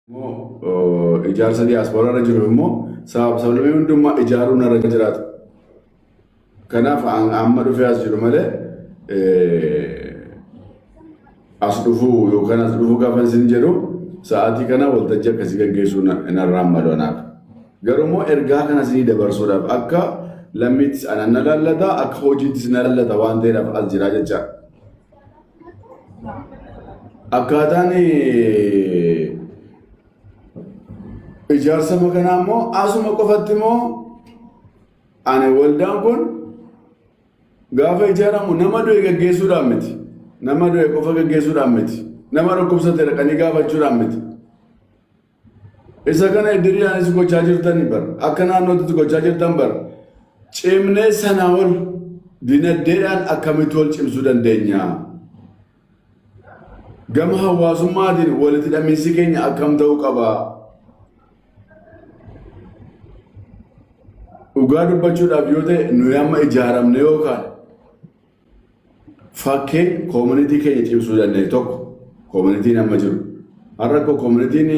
immoo ijaarsa diyaaspooraa irra jiru immoo sababa sablamii hundummaa ijaaruu narra jiraatu. Kanaaf amma dhufee as jiru malee as dhufuu yookaan as dhufuu gaafa isin jedhu sa'aatii kana waltajjii akkasii gaggeessuu narraan maloonaaf. Garuu immoo ergaa kana isinii dabarsuudhaaf akka lammiittis anan na laallata akka hojiittis na laallata waan ta'eedhaaf as jiraa jecha. Akkaataan ijaarsa makanaa immoo asuma qofatti immoo ani waldaan kun gaafa ijaaramu nama du'e gaggeessuudhaan miti. Nama du'e qofa gaggeessuudhaan miti. Nama dhukkubsate dhaqanii gaafachuudhaan miti. Isa kana idiriidhaanis gochaa jirtan bar akka naannootti gochaa jirtan bar cimnee sanaa ol dinagdeedhaan akkamitti wal cimsuu dandeenya? Gama hawaasummaatiin walitti hidhamiinsi keenya akkam ta'uu qaba? Dhugaa dubbachuudhaaf yoo ta'e nuyi amma ijaaramne yookaan Fakkeen koomunitii keenya cimsuu danda'e tokko koomunitiin amma jiru. Har'a koo koomunitiin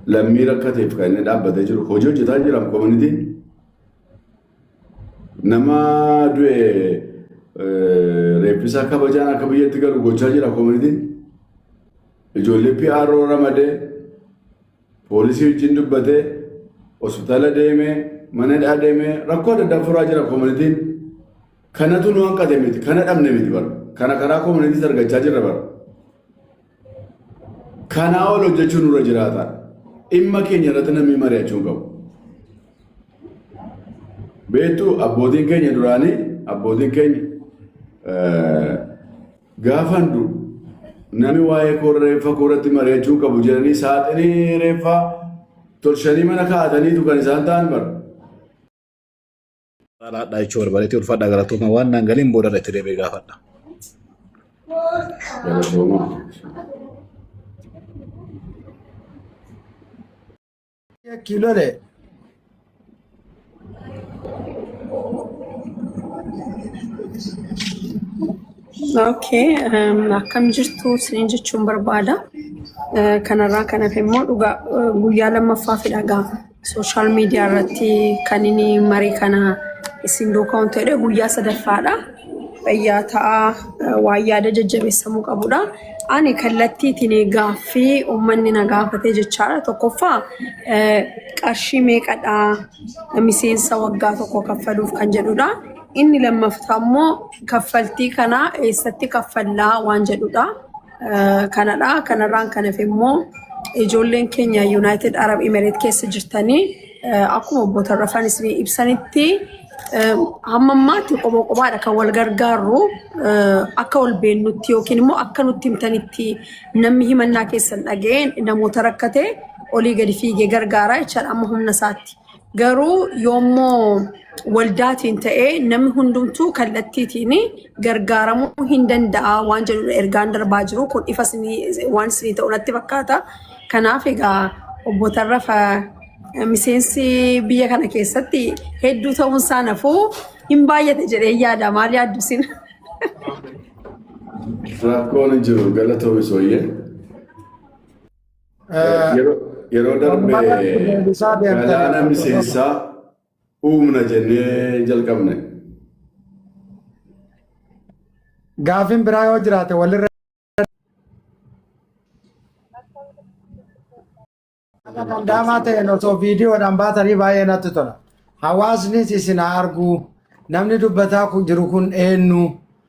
lammii rakkateef kan inni dhaabbatee jiru hojii hojjetaa jira koomunitiin. Nama du'e reeffisaa kabajaan akka biyyatti galu gochaa jira koomunitiin. Ijoollee PRO ramadee Poolisii wajjin dubbatee, hospitaala deemee, mana hidhaa deemee rakkoo adda addaa furaa jira koominitiin. Kanatu nu hanqate miti, kana dhabne miti bara. Kana karaa koominiitiis argachaa jirra bara. Kanaa ol hojjechuun nurra jiraata. Dhimma keenya irratti namni mari'achuu hin qabu. Beektuu abbootiin keenya duraanii abbootiin keenya Gaafan du'u nami waa'ee koo reeffa koo irratti mari'achuu qabu jedhanii saaxinii reeffaa tolchanii mana kaa'ataniitu kan isaan ta'an bara. Alaadhaa jechuu barbaadeti ulfaadhaa galatooma waan naan galiin booda irratti deebi'ee gaafadha. Galatoomaa. Yakki lole. Okay, um, akkam jirtu isiniin jechuun barbaada. Eh, Kanarraa kan hafe immoo dhugaa eh, guyyaa lammaffaaf dhagaa sooshaal miidiyaa irratti kan inni marii kana isin duukaa waan ta'edha guyyaa sadaffaadha. fayyaa ta'aa waan yaada jajjabeessamuu qabudha. Ani kallattiitiin gaaffii uummanni na gaafatee jechaadha. Tokkoffaa qarshii meeqadha miseensa waggaa tokko kaffaluuf kan jedhudha. Inni lammaffaa immoo kaffaltii kana eessatti kaffallaa waan jedhudha. Kanadha. Kanarraan kan hafe immoo ijoolleen keenya Yuunaayitid Arab Imereet keessa jirtanii akkuma obbo Tarrafaan isin ibsanitti hamma ammaatti qoboo qobaadha kan wal gargaarru akka wal beennutti yookiin immoo akka nutti himtanitti namni himannaa keessan dhaga'een namoota rakkate olii gadi fiigee gargaaraa jechaadha amma humna isaatti. Garuu yoommoo waldaatiin ta'ee namni hundumtuu kallattiitiin gargaaramuu hin danda'a waan jedhu ergaan darbaa jiru kun ifa isinii- waan isinii ta'u natti fakkaata. Kanaaf egaa obbo Tarrafa eh, miseensi biyya kana keessatti hedduu ta'uun isaa nafuu hin baay'ate jedhee yaada maal yaaddu isin? Rakkoon hin jiru galatoomi sooyyee. Yeroo darbe galaana miseensaa uumna jennee jalqabne. Gaafin biraa yoo jiraate walirra. Dandaamaa ta'een osoo viidiyoodhaan baatanii baay'ee natti tola. Hawaasnis isin haa arguu. Namni dubbataa jiru kun eenyu?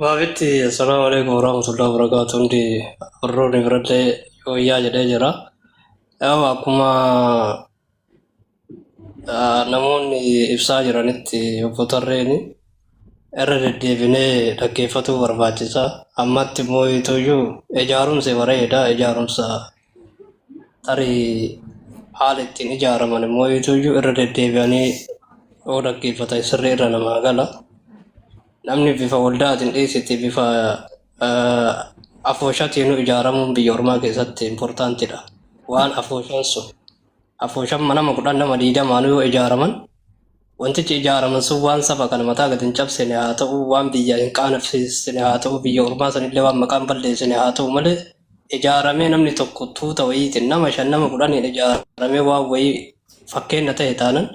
Baabitti assalaamu alaikum warahmatullahi wabarakatuh hundi warroonni biradhee yooyyaa jedhee jira. Yaa'u akkuma ah, namoonni ibsaa jiranitti obbo Tarreeni irra deddeebinee dhaggeeffatuu barbaachisa. Ammatti immoo ituyyuu ijaarumsi bareeda ijaarumsa tarii haala ittiin ijaaraman immoo iyyuu irra deddeebi'anii yoo dhaggeeffatan sirrii irra namaa gala. Namni bifa waldaatiin dhiisiti bifa afooshatiin ijaaramuun biyya ormaa keessatti importantidha. Waan afooshaan sun afooshan manama kudhan nama diidamaanuu yoo ijaaraman wantichi ijaaraman sun waan saba kana mataa gad hin cabsine haa ta'u waan biyya hin qaanofsiisne haa ta'u biyya ormaa sanillee waan maqaan balleessine haa ta'u malee ijaaramee namni tokko tuuta wayiitiin nama shan nama kudhaniin ijaaramee waan wayii fakkeenya ta'e taanan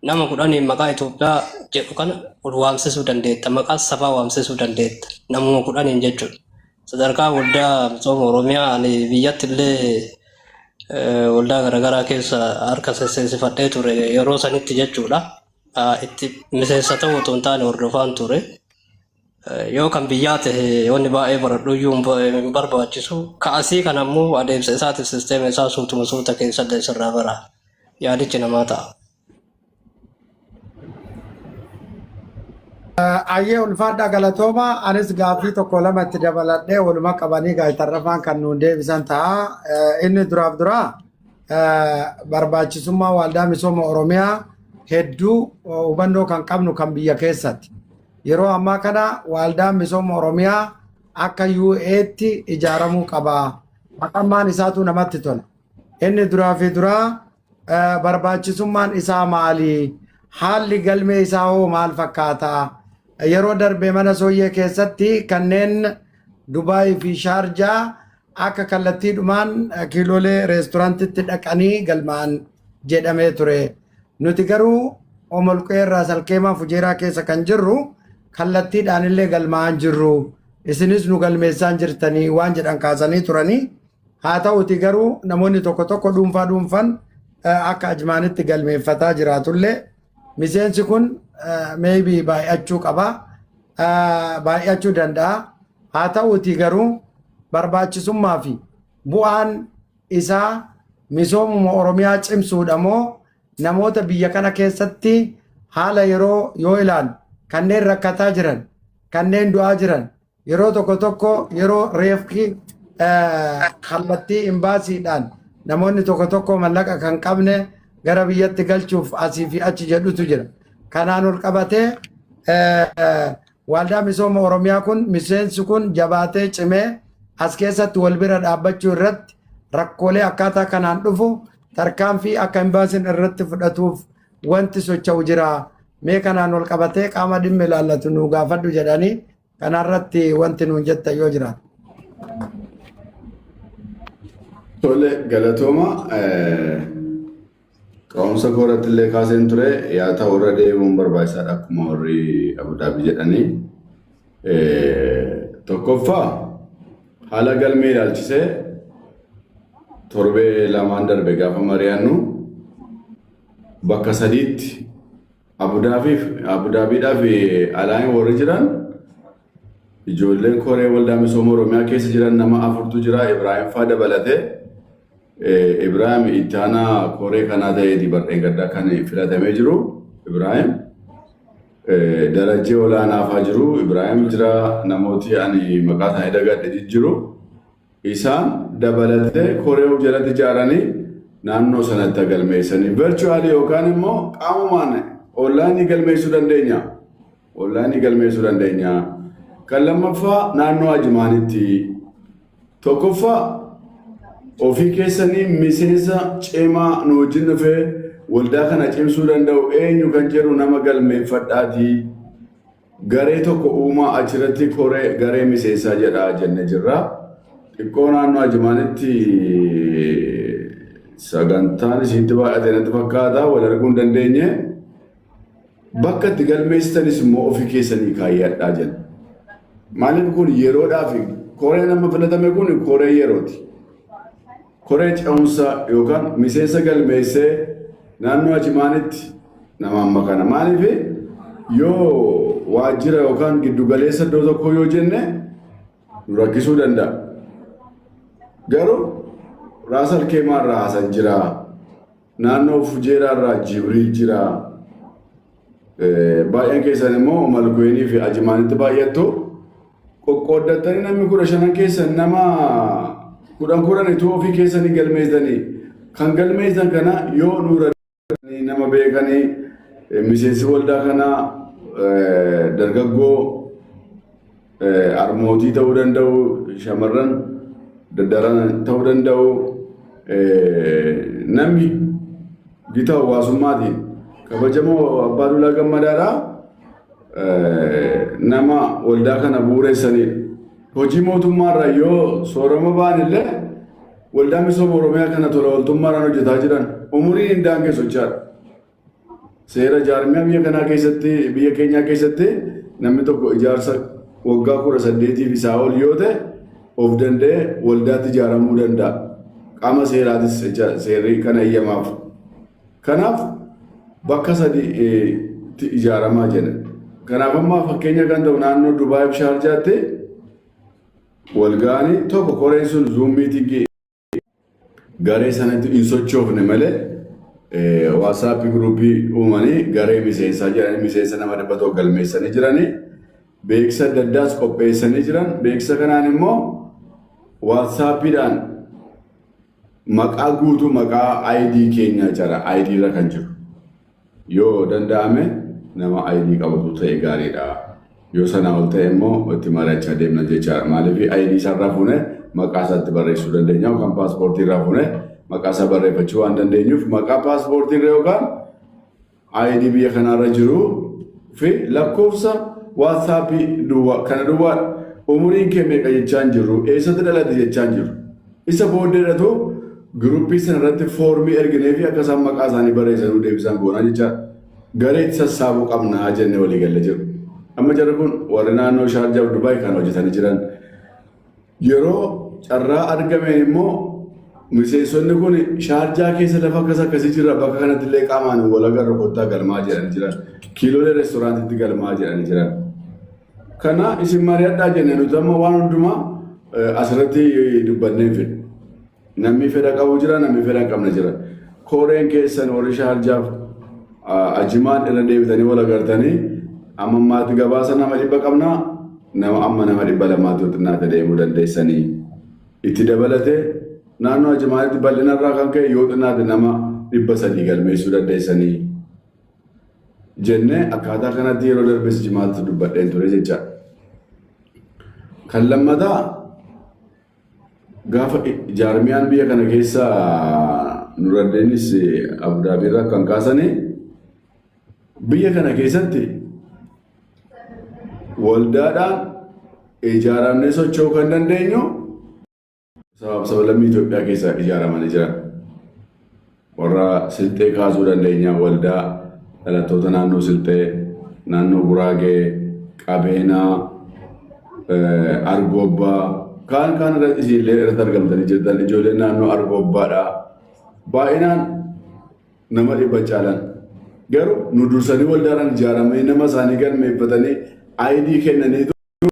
nama kudhaniin maqaa Itoophiyaa jedhu kana ol waamsisuu dandeetta maqaa sabaa waamsisuu dandeetta namuma kudhaniin jechuudha. Sadarkaa waldaa misooma Oromiyaa ani biyyatti illee waldaa garaagaraa keessa harka sesseensifadhee ture yeroo sanitti jechuudha. Itti miseensa ta'uu otoo hin taane hordofaan ture. Yoo kan biyyaa ta'e wanni baay'ee baradhu iyyuu hin barbaachisu. Ka asii kan ammoo adeemsa isaatiif sisteema isaa suutuma suuta keessallee sirraa bara yaadichi namaa ta'a. Ayyee ulfaadhaa galatooma anis gaaffii tokko lama itti dabaladhee waluma qabanii gaazexarrafaan kan nuun deebisan ta'a. Eh, Inni duraaf duraa eh, barbaachisummaa waaldaa misooma Oromiyaa hedduu eh, hubannoo kan qabnu kan biyya keessatti. Yeroo ammaa kana waaldaan misooma Oromiyaa akka UA'tti ijaaramuu qaba. Maqammaan isaatu namatti tola. Inni duraa fi duraa Eh, barbaachisummaan isaa maali? Haalli galmee isaa hoo maal fakkaata? Yeroo darbe mana sooyyee keessatti kanneen Dubaayii fi Shaarjaa akka kallattiidhumaan eh, kiiloolee reestoraantitti dhaqanii galmaa'an jedhamee ture. Nuti garuu omolqee irraa salkeemaa fujeeraa keessa kan jirru kallattiidhaan illee galmaa'an jirru. Isinis nu galmeessaan jirtanii waan jedhan kaasanii turanii. Haa ta'uti garuu namoonni tokko tokko dhuunfaa dhuunfan akka ajmaanitti galmeeffataa jiraatullee miseensi kun maybe baay'achuu qaba baay'achuu danda'a haa ta'uti garuu barbaachisummaa fi bu'aan isaa misoomuma oromiyaa cimsuudha moo namoota biyya kana keessatti haala yeroo yoo ilaalu kanneen rakkataa jiran kanneen du'aa jiran Yeroo tokko tokko yeroo reefki kallattii imbaasiidhaan namoonni tokko tokko mallaqa kan qabne gara biyyatti galchuuf asii fi achi jedhutu jira. Kanaan ol qabatee waaldaa misooma Oromiyaa kun miseensi kun jabaatee cimee as keessatti wal bira dhaabbachuu irratti rakkoolee akkaataa kanaan dhufu tarkaanfii akka imbaasiin irratti fudhatuuf wanti socha'u jira mee kanaan wal qabatee qaama dhimmi ilaallatu nu gaafadhu jedhanii kanarratti wanti nuun jetta yoo jiraatu. Tole galatooma ka'umsa kooratti illee kaaseen ture yaa ta'u irra deemuun barbaachisaadha akkuma warri Abudaabii jedhanii. Tokkoffaa haala galmee ilaalchisee torbee lamaan darbe gaafa mari'annu bakka sadiitti Abudaabiif Abudaabiidhaaf alaayin warri jiran ijoolleen koree waldaa misooma Oromiyaa keessa jiran nama afurtu jira Ibraahim faa dabalate eh, Ibraahim itti aanaa koree kanaa ta'eeti bardheen gaddaa kan filatamee jiru Ibraahim eh, darajee olaanaafaa jiru Ibraahim jira namooti ani maqaa isaanii dagadhe jijjiru. Isaan dabalatee koree of jalatti ijaaranii naannoo sanatti galmeessanii virtually yookaan immoo qaamumaan online galmeessuu dandeenya. Online galmeessuu dandeenya. Kan lammaffaa naannoo Ajimaanitti tokkoffaa ofii keessanii miseensa cimaa nu wajjin dhufee waldaa kana cimsuu danda'u eenyu kan jedhu nama galmeeffadhaatii Garee tokko uumaa achiratti koree garee miseensaa jedhaa jenne jirra. Xiqqoo naannoo Ajimaanitti sagantaan isiitti baay'ate natti fakkaata wal arguu hin dandeenye. Bakka itti galmeessitanis immoo ofii keessanii kaayyadhaa jenna. Maaliif kun yeroodhaaf koreen amma filatame kun koree yerooti. Koree Ce'umsaa yookaan miseensa galmeessee naannoo Achimaanitti namaan makana. Maaliif yoo waajjira yookaan giddu galeessa iddoo tokkoo yoo jenne nu rakkisuu danda'a. Garuu Raasal Keemaa irraa haasan jiraa. Naannoo Fujeeraa irraa Jibriil jira. Baay'een keessan immoo Malkuweenii fi Ajimaanitti baay'attu. Qoqqooddattanii namni kudha shanan keessan nama kudhan kudhan ituu ofii keessanii galmeessanii kan galmeessan kana yoo nuura nama beekanii miseensi waldaa kanaa dargaggoo Harmootii ta'uu danda'u, shamarran daddaran ta'uu danda'u, namni gita hawaasummaatiin kabajamoo Abbaa Duulaa Gammadaadhaa nama waldaa kana bu'uureessanidha. Hojii mootummaarraa yoo soorama ba'an illee waldaa misooma Oromiyaa kana tola ooltummaadhaan hojjetaa jiran umuriin hin daangessu jechaadha. Seera jaarmiyaa biyya kanaa keessatti biyya keenyaa keessatti namni tokko ijaarsa waggaa kudha saddeetiif isaa ol yoo ta'e of danda'ee waldaatti ijaaramuu danda'a. Qaama seeraatis seerri kana eeyyamaaf. Kanaaf bakka sadiitti ijaaramaa jedha. Kanaaf ammaa fakkeenya kan ta'u naannoo Dubaay fi Shaarjaatti walgaanii tokko koreen sun zuum miitingii garee sanatti hin sochoofne malee waasaappi guruupii uumanii garee miseensaa jedhanii miseensa nama dhibba tokko galmeessanii jiranii beeksisa adda addaas qopheessanii jiran beeksisa kanaan immoo waasaappiidhaan maqaa guutuu maqaa ID keenyaa jara ID irra kan jiru. Yoo danda'ame nama ID qabatu ta'e gaariidha. Yoo sanaa ol ta'e immoo itti mari'achaa deemna jechaadha. Maaliif ID isaarraa fuunee maqaa isaatti barreessuu dandeenya yookaan paaspoortii irraa fuunee maqaa isaa barreeffachuu waan dandeenyuuf maqaa paaspoortii irra yookaan ID biyya kanaarra jiru fi lakkoofsa waatsaappii duwwaa kana duwwaa umuriin kee meeqa jechaan jiru eessatti dhalate jechaan jiru. Isa booddee dhatu giruuppii sana irratti foormii erginee fi akka isaan maqaa isaanii barreessanuu deebisaan goonaa jecha garee itti sassaabuu qabnaa jenne walii galle jiru. Amma jarri kun warri naannoo Shaarjaa fi Dubaay kan hojjetanii jiran yeroo carraa argameen immoo miseensonni kun Shaarjaa keessa lafa akkas akkasii jira bakka kanatti illee qaamaan wal agarra kottaa galmaa jedhanii jiran kiiloolee reestoraantiitti galmaa jedhanii jiran. Kana isin mari'adhaa jenne nuti amma waan hundumaa asirratti dubbannee hin fedhu. Namni fedha qabu jira, namni fedha hin qabne jira. Kooreen keessan warri shaarjaaf ajimaan irra deebitanii wal agartanii amma ammaatti gabaasa nama dhibba qabnaa nama amma nama dhibba lamaatti xinnaata deemuu dandeessanii. Itti dabalatee naannoo ajimaanitti bal'inarraa kan ka'e yoo xinnaate nama dhibba sadii galmeessuu dandeessanii. jenne akkaataa kanatti yeroo darbes jimaatti dubbadheen ture jecha. Kan lammataa gaafa jaarmiyaan biyya kana keessa nuraddeenis abudaabiirraa kan kaasane biyya kana keessatti waldaadhaan ijaaramnee socho'uu kan dandeenyu Sabaaf sabalammii Itoophiyaa keessaa ijaaramanii jiran warra Silxee kaasuu dandeenya waldaa dhalattoota naannoo Silxee, naannoo Guraagee, Qabeenaa, Argoobbaa kaan kaan irratti isinillee irratti argamtanii jirtan ijoolleen naannoo Argoobbaadhaa baay'inaan nama dhibba caalan garuu nu dursanii waldaadhaan ijaaramanii nama isaanii galmeeffatanii ayidii kennaniitu